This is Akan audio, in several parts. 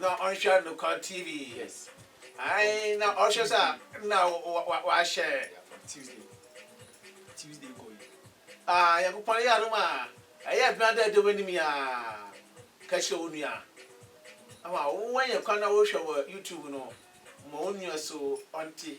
Na ɔnhwɛ Anokwa TV. Yes. Ae, na ɔhwɛ sɛ na wahyɛ. Tuesday. Tuesday kɔ yi. Ah, Nyankopɔn yɛ adom a, ɛyɛ adwuma dɛ ɛda w'anim yi ara. Ka kyerɛ wo nua. Ama woanya kwan na wohwɛ wɔ YouTube no, ma wo nua so ɔnte.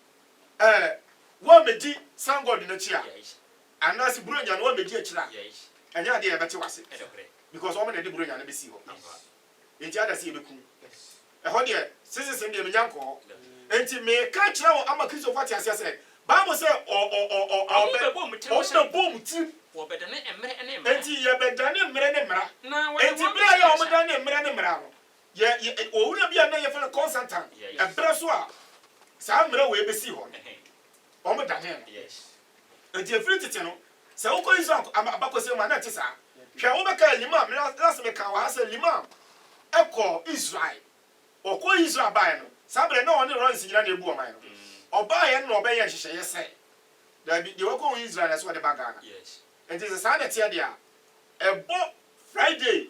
Eh wo a medi sun god no akyi a anaa se buronya no wo a medi akyire a ɛnyɛ adeɛ a yɛbɛte wo ase because wɔn na ɛde buronya no bɛsii hɔ enti ada se yɛbɛku no ɛhɔ deɛ seasons no deɛ menya nkɔ hɔ enti meka akyerɛ wo ama Kristofo ate aseɛ sɛ bible sɛ ɔ ɔ ɔ ɔ ɔ wɔn bɛbɔ wɔn tirim wɔn bɛbɔ wɔn tirim wɔbɛdane mmerɛ ne mmara enti yɛbɛdane mmerɛ ne mmara enti berɛ a yɛ wɔn dane mmerɛ ne mmara no Yɛ, yɛ, owura bi a na yɛfrɛ no Constantine, ɛberɛ so a saa mmerɛ wei bɛsii hɔ no, wɔdanee no. Enti ɛfiri tete no, sɛ wokɔ Israel ab, abakɔsɛm mu a, na ɛte saa. Hwɛ, wobɛkae Limam, me, last mekaa wɔ ha sɛ Limam kɔɔ Israel. Ɔkɔɔ Israel baeɛ no, saa berɛ na ɔne Rawlings nyina na ɛbu ɔman no. Ɔbaeɛ no na ɔbɛyɛɛ nhyehyɛeɛ sɛ, Daabi, deɛ wakɔ Israel na ɛsɛ sɛ ɔde ba Ghana. Enti sɛ saa na ɛteɛ deɛ a, ɛbɔ Friday,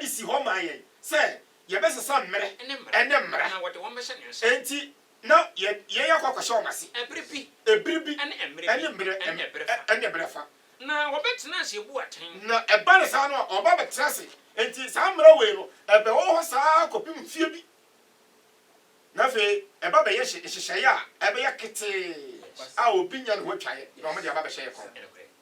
de si hɔ maa yɛn sɛ yɛbɛsesa mmere ne mmara. Enti, na yɛn akɔ akɔhyɛ wɔn ase bere bi ne mmere fa. Na ɛba no saa no a, wɔba bɛtena ase. Enti, saa mmara wei no, ɛbɛwɔ hɔ saa ara kɔpem mfeɛ bi, na afei ɛba bɛyɛ nhyehyɛeɛ a ɛbɛyɛ ketee a obi nya ne ho atwaeɛ na wɔde aba abɛhyɛ yɛn kɔn.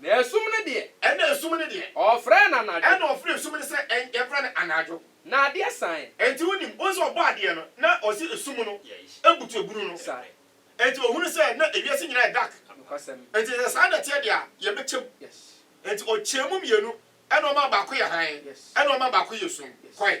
Na esum no deɛ. Ɛna esum no deɛ. Ɔfrɛɛ no anadwo. Ɛna ɔfrɛɛ esum no sɛ ɛn, yɛmfrɛ no anadwo. Na adeɛ saeɛ. Enti wonim, wohu sɛ ɔbɔɔ adeɛ no, na ɔse esum no abutu abunu no. Sa. Enti ɔhunu sɛ na ewiase nyinaa yɛ dark. Nokwasɛm. Enti sɛ saa na ɛteɛ deɛ a, yɛbɛkyɛm. Yes. Enti ɔkyɛɛ mu mmienu, ɛna ɔmaa baako yɛ hann. Yes. Ɛna ɔmaa baako yɛ sum. Yes. Kɔe.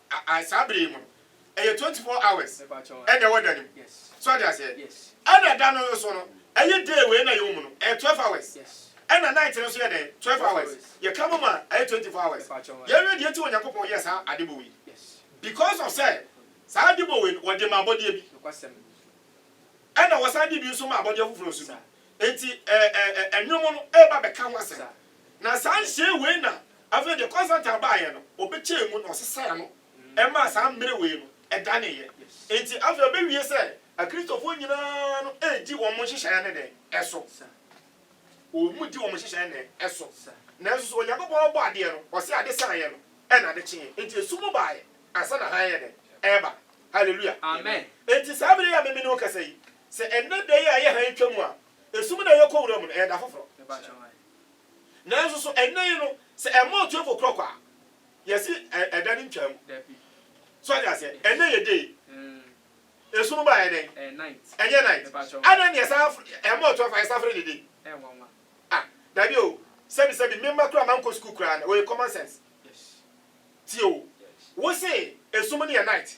Aai saa bere yi mu no ɛyɛ twenty four hours ɛna ɛwɔ da no mu so ɔte aseɛ ɛna da no nso no ɛyɛ day wei na yɛwɔ mu no ɛyɛ twelve hours ɛna night no nso yɛ dɛn twelve hours yɛka bɔ mu a ɛyɛ twenty four hours yɛhwɛ deɛ nti Onyankopɔn yɛɛ saa ade bɔ wei because of sɛ saa ade bɔ wei no wɔde ma abɔdeɛ bi ɛna wɔsan de bi nso ma abɔdeɛ foforɔ nso bi Enti ɛɛ nnwom no reba bɛka ho asɛm. Na saa nhyehyɛe wei na afei deɛ Constantine baeɛ no, ɔbɛkyɛɛ mu na ɔsesaa ano maa saa mmere wei no daneeɛ. Enti afei ɛbɛwie sɛ Akristofoɔ nyinaa no redi wɔn nhyehyɛeɛ no dɛn so? Wɔdi wɔn nhyehyɛeɛ dɛn so? Nanso so Onyankopɔn ɔbɔ adeɛ no, ɔse ade saeɛ no na ade kyeeɛ. Enti esum baeɛ ansa na hann yɛ dɛn? Ɛreba. Hallelujah. Enti saa bere yi a me ne wo rekasa yi, Sɛ ɛnnɛ da yi a ɛyɛ hann twam a, esum na ɛyɛ kɔ wuram no, ɛyɛ da foforo. Nanso so ɛnnɛ yi no, sɛ ɛma otuafo korɔ kɔ a, yɛse ɛda no ntwaa mu? So wate aseɛ? Ɛnnɛ yɛ day. Esum ba a, ɛyɛ dɛn? Ɛnyɛ night. Adɛn ne yɛsan ɛma otuafo a yɛsan frɛ no day? Ah, dabi o, sɛbi sɛbi, me mma koraa mankɔ sukuu koraa no, ɔyɛ common sense. Tie o, wose esum no yɛ night.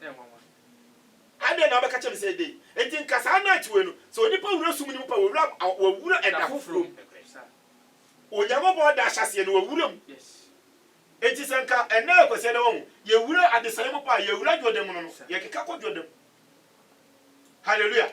Ɛyɛ nwanwa. Adɛn na wobɛka kyerɛ me sɛ dei? Enti nka saa na akyiwei no, sɛ onipa wura sum no mu pɛ, wawura mu, wawura ɛda foforɔ mu. Onyankopɔn da ahyɛaseɛ no, wawura mu. Enti sɛ nka ɛnnɛ yɛ Kwasiada, wahu, yɛwura adesaeɛ mu paa, yɛwura Jordan mu no no, yɛkeka kɔ Jordan mu. Hallelujah.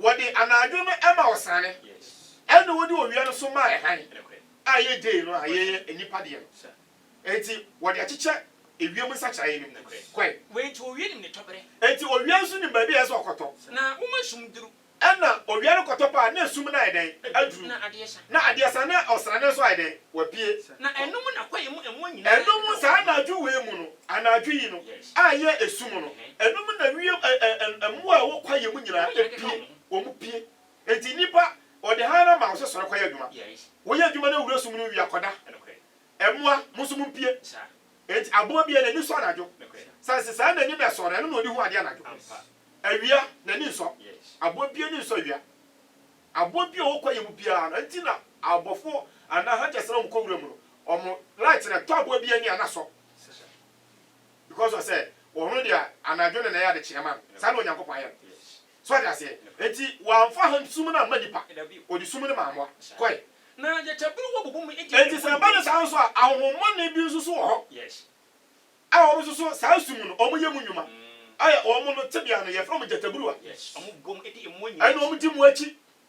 Wɔde anadwo no ma ɔsane, ɛnna wɔde owia no nso ma hann a ɛyɛ day no a ɛyɛ nnipa deɛ no. Enti wɔde akyekyɛ ewiem nsakyeraeɛ no mu. Kɔe. Enti owia nim ne tɔberɛ. Enti owia nso nim baabi a ɛsɛ sɛ ɔkɔtɔ. Na woma sum duru. Ɛnna owia no kɔtɔ paa, na sum no ayɛ dɛn? Aduru. Na adeɛ sa. Na adeɛ sa, na ɔsrane nso ayɛ dɛn? Wapue. Na ɛno mu na kwaeɛ mu mmoa nyinaa. Ɛno mu saa anadwo wei mu no. Anadwo yi no a ɛyɛ esu mu no, ɛnom na wiem ɛ ɛ ɛ mmoa a ɛwɔ kwaeɛ mu nyinaa pue, wɔn pue. Enti nnipa, wɔde hann ama wo sɛ sɔre kɔyɛ adwuma. Woyɛ adwuma na wura sum no wie a, kɔda. Mmoa, mo nso mompue. Enti aboa biara n'ani sɔ anadwo. Sane sɛ saa n'ani na ɛsɔ no, ɛno na ɔdi hu adeɛ anadwo. Awia, n'ani nsɔ. Aboa biara ani nsɔ awia. Aboa biara a ɔwɔ kwaeɛ mu biara no, enti na abɔfoɔ anaa hunters no a wɔkɔ wura mu no, wɔn light no, ɛtɔ aboa biara ani a na asɔ. because ɔsɛ ɔno deɛ anadwo no na ɛyɛ adekyeɛ ma no saa na Onyankopɔn ayɛ no so ɔde aseɛ enti wamfa han sum no amma nipa ɔde sum no maa mmoa kɔe enti sɛ ɛba no saa nso a ahohommɔne bi nso so wɔ hɔ a wɔn nso so saa sum no wɔn yɛ mu nnwuma ayɛ wɔn no tebea no yɛfrɛ wɔn gyataburuwa ɛna wɔn di mu akyi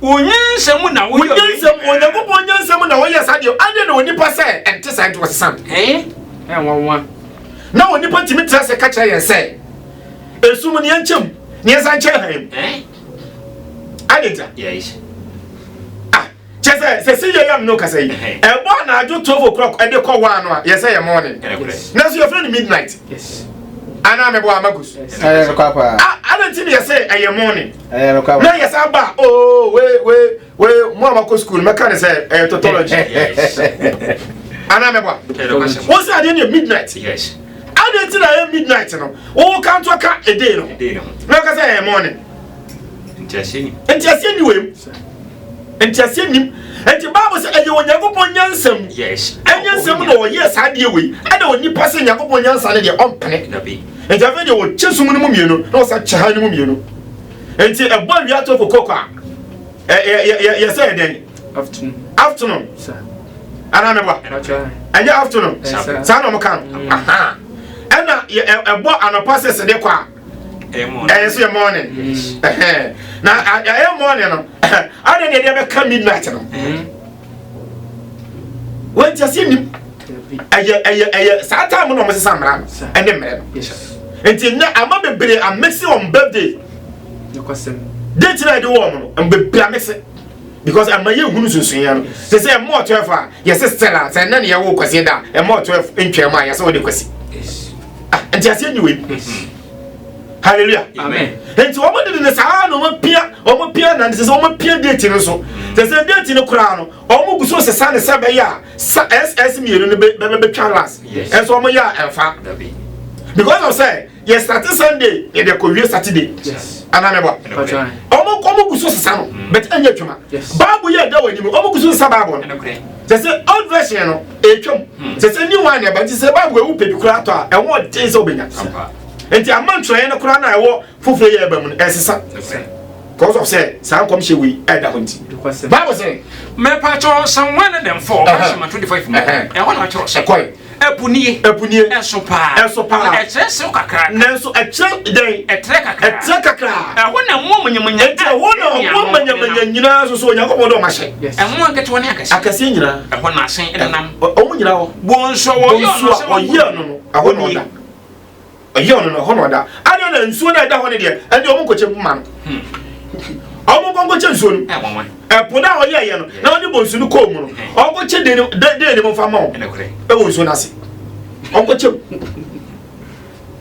Wo nyansa mu na woyɛ ɔyɛ nyansa mu onyankopɔn nyansa mu na wɔyɛ saa deɛ adeɛ na onipa sɛ ɛnte saa nti wɔsesa no ɛɛ nwanwa na onipa tumi tra sɛ ka kyerɛ yɛn sɛ esum ne yɛnkyɛm ne yɛnsa nkyɛ han mu adenta ah kyɛ sɛ sɛ si yɛ yam no kasa yi ɛbɔ anadwo 12 o'clock ɛde kɔ hɔ ano a yɛsɛ yɛ morning na so yɛfrɛ no midnight anaa mɛbɔ amagus adenti ne yɛsɛ ɛyɛ morning ɛyɛ no kwa na yɛ saa ba oo oh, we we we mo a makɔ sukuu no mɛka ne sɛ ɛyɛ totology anaa mɛboa wo sɛ adeɛ ne midnight adeɛ nti na ɛyɛ midnight no wowo ka nto ka ɛdei no na woka sɛ ɛyɛ morning ntiaseɛ ni wei mu ntiaseɛ nim nti bible sɛ ɛyɛ onyankopɔn nyansam ɛnyɛ nsɛm na ɔyɛ saa deɛ wei ɛna onipa sɛ nyankopɔn nyansa no deɛ ɔmpene nti afei deɛ wɔkyɛ sum no mu mmienu na wɔsan kyɛ han no mu mmienu nti ɛbɔ awia to fo kɔkɔ a yɛsɛ yɛ dɛn afternoon anaa mɛboa ɛnyɛ afternoon saa na ɔmoka no ɛna ɛbɔ anɔpa sɛ sɛdeɛ kɔ a ɛyɛ sɛ yɛ morning na ɛyɛ morning no ade deɛ deɛ bɛka midnight no mm-hmm. wɔnti aseɛ nim ɛyɛ ɛyɛ ɛyɛ saa taa mu na wɔn sesa mmara no ɛne mmerɛ no nti nnɛ ama bebree amese wɔn birthday date na ɛde wɔn no bebree amese because ɛma yɛ hunu sunsun yɛn no te sɛ ɛmɔ ɔtɔ ɛfɔ a yɛsɛ stella sɛ ɛnna ne yɛwɔ kwasi da ɛmɔ ɔtɔ ɛfɔ ntwɛn mu a yɛsɛ wɔde kwasi nti aseɛ nyi wei. hallelujah amen nti wɔn de ne saa na wɔn pia wɔn pia na ne sɛ wɔn pia deeti no so sɛ sɛ deeti no koraa no wɔn gu so sesa ne sɛ bɛyɛ a sa ss mmienu no bɛ bɛ bɛtwa last ɛnso wɔn yɛ a ɛnfa because of sɛ yɛ start sunday yɛ de kɔ wie saturday anamɛbɔ wɔn wɔn gu so sesa no bɛtɛ ɛnyɛ adwuma baabu yɛ ɛda wɔn anim wɔn gu so sesa baabu no sɛ sɛ old version no. ɛtwam hmm. sɛ sɛ new wine ɛba nti sɛ bible ɛwo pɛ bi koraa tɔ a ɛho ɔden sɛ wobɛnya nti ama ntwerɛeɛ no koraa na ɛwɔ foforɔ yɛ ɛba mu no ɛsesa because of sɛ saa nkɔm hyɛ wei ɛda hɔ nti bible sɛ mɛpakyɛ san wan ne dɛmfo ɔbɛhyɛma 25 mu ɛhɔ na ɔkyerɛ sɛ ɛkɔe ɛpunie ɛpunie ɛso paa ɛso paa ɛkyerɛ sew kakra nanso ɛkyerɛ dɛn ɛtrɛ kakra ɛtrɛ kakra ɛhɔ na mmoa manyamanya ɛti ɛhɔ na mmoa manyamanya nyinaa soso onyankopɔn dɛ ɔmahyɛ Mmoa nketewa ne akɛseɛ. Akɛseɛ nyinaa. Ɛhɔ na ahyɛn nenam. Wɔn nyinaa hɔ. Bonsu a wɔyɛɛ no sɛ wɔyɛɛ no no, ɛhɔ na ɔda. Ɔyɛɛ no no, ɛhɔ na ɔda. Adeɛ na nsuo no a ɛda hɔ no deɛ, ɛnde wɔn nkɔkyɛ mu ma no. Wɔn nkɔ nkɔkyɛ nsuo no. Ɛpo no a ɔyɛeɛ no, na ɔde bonsu no kɔɔ mu no, ɔnkɔkyɛ den den ne mu mfa ma wɔn. Ɛwɔ nsuo no ase. Ɔnkɔkyɛ mu.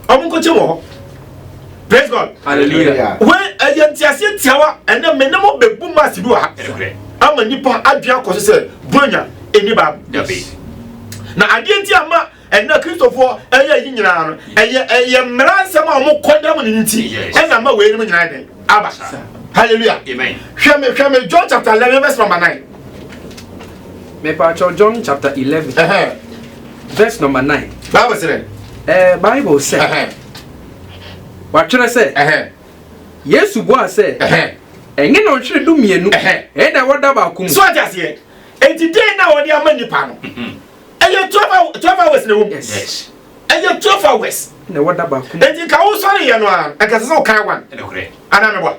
ɔmo nkokye wɔ hɔ praise god hallelujah wei ɛyɛ nteaseɛ tiawa ɛnɛ me ne mo bɛbu maase bi wɔ ha ama nipa adwene akɔ so sɛ bonya ɛni baabu na adeɛ nti ama ɛnna kristofoɔ ɛyɛ yi nyinaa no ɛyɛ ɛyɛ mmara nsɛm a wɔn kɔ dɛm ne nti ɛna ama wei nom nyinaa dɛn aba hallelujah hwɛ me hwɛ me john chapter eleven verse number nine. mepaakyɛw john chapter eleven. verse number nine. bible sɛ dɛ. ɛɛ bible sɛ watwerɛ sɛ yesu bua sɛ ɛnyɛ na ɔtwerɛ du mmienu ɛyɛ na wɔda baako mu. so ɔte aseɛ eti den na wɔde ama nipa no mhm. ɛyɛ twelve twelve hours na ɛwɔ mu ɛyɛ twelve hours na wɔda baako mu eti nka wosɔre yɛ no a nka sɛ sɛ ɔkan one anamibɔ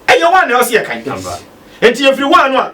ɛyɛ one na ɛwɔ se yɛ kan eti efiri one no a.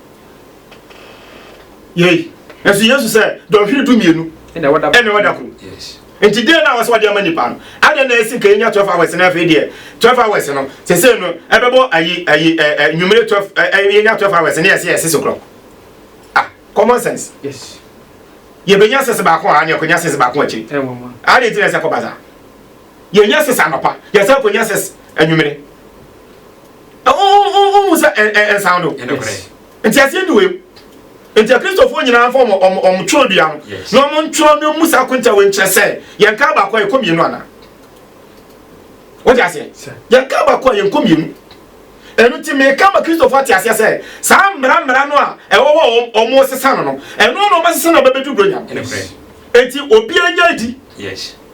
yei nanso yesu sɛ dɔnhwere du mmienu ɛna ɛwɔ da koro nti deɛ na wɔsɛ wɔde ama nipa no adeɛ na ɛsi nka yɛnya twelve hours na afei deɛ twelve hours no sese no ɛbɛbɔ ayi ayi ɛɛ eh, eh, nwumire twelve ɛɛ eh, yɛnya twelve hours ne yɛsɛ yɛsɛ sɛ korɔ ah common sense yes yɛbɛnya sese baako a ne yɛkɔnya sese baako akyiri adeɛ ti na ɛsɛ kɔ baza. yɛnyɛ six anɔpa yɛsan kɔnya six anwummere wohu sɛ ɛnsan do nti aseɛ ni wei nti akristofoɔ nyinaa mfa ɔmo twerɛ dua no na ɔmo ntwerɛ no mu saa konta wei nkyerɛ sɛ yɛnka baako a yɛkɔ mmienu anaa wode aseɛ yɛnka baako a yɛnkɔ mmienu ɛno nti meka ma kristofo ate aseɛ sɛ saa mmara mmara no a ɛwɔ hɔ a ɔmo sesa no no ɛno na ɔbɛsesa na ɔbɛbɛdu buronya no enti obiara nya adi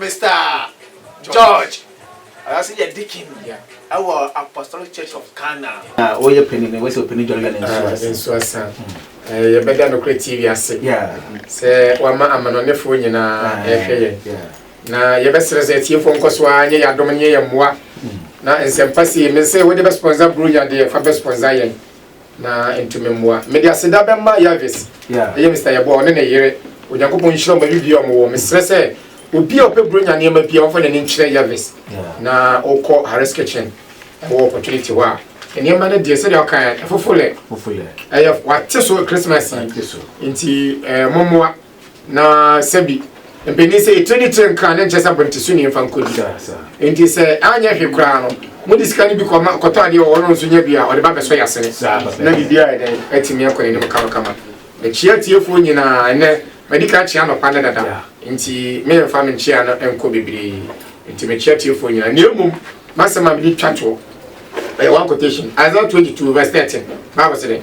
Mister George, ɔno nso yɛ deacon wɔ Apostolic Church of Ghana. Na woyɛ panin no, wose ɔpanin dware wia ne nsuo asa. Ne nsuo asa. Yɛbɛda nokorɛ tie wiase sɛ wama amanɔnefoɔ nyinaa ɛrehwɛ yɛn. Na yɛbɛsrɛ sɛ atiefoɔ nkɔ so ara nyɛ yɛn adom ne yɛ yɛn mmoa. Na nsɛmpa sei, mese wode bɛspɔnsa buronya deɛ, fa bɛspɔnsa yɛn. Na ntu me mmoa. Mede aseda bɛma Yahves, ɛyɛ Mister Yeboah, ɔne ne yere. Onyankopɔn nhyira wɔn baabibiara a wɔn wɔ. Mesrɛ sɛ obi a ɔpɛ Buronya nneɛma biara ɔmfa n'ani nkyerɛ Yahves na ɔkɔ Harris Kitchen wɔ Opportunity hɔ a. Nneɛma no deɛ sɛdeɛ ɔkaeɛ, ɛfofo lɛ. Ɛyɛ, wɔate so Christmas yi nti, mommoa. Na sɛ bi, mpanin sɛ etire ne tire nkra ne nkyɛ sɛ abante so ni mfa nkɔdi. Enti sɛ anyɛ hwe koraa no, mode sika no bi kɔma kɔtɔ adeɛ wɔ ɔno nso nya bi a ɔde ba bɛsɔ yasene. Na biribiara yɛ dɛn atumi akɔ n'anim kamakama. Mekyia atiefoɔ nyinaa ɛnɛ. Madi kan kyia anɔpa ne dada. Enti meremfa me nkyia no nkɔ bebree. Enti mekyia atiefoɔ nyinaa. Nea mmom m'asɛm a mede twa toɔ ɛyɛ one quotation Isaiah 22 verse 13. Bible sɛ dɛn?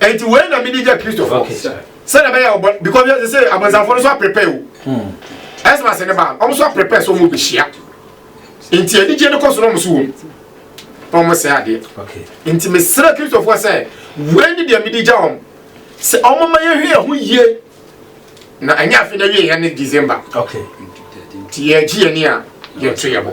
ɛnti wei na mede gya kristofo sɛdeɛ bɛyɛ ɔbɔ because yɛsɛ sɛ abɔnsafo no nso aprepɛ o ɛsɛ ase ne baa ɔmo nso aprepɛ sɛ ɔmo bɛhyia nti anigye no kɔ so na ɔmo so wɔ mu na ɔmo sɛ adeɛ nti mesrɛ kristofoɔ sɛ wei ne deɛ mede gya wɔn sɛ ɔmo ma yɛhwɛ yɛn ho yie na ɛnyɛ afe na wie yɛn ne december nti yɛgye yɛn ni a yɛto yɛ bɔ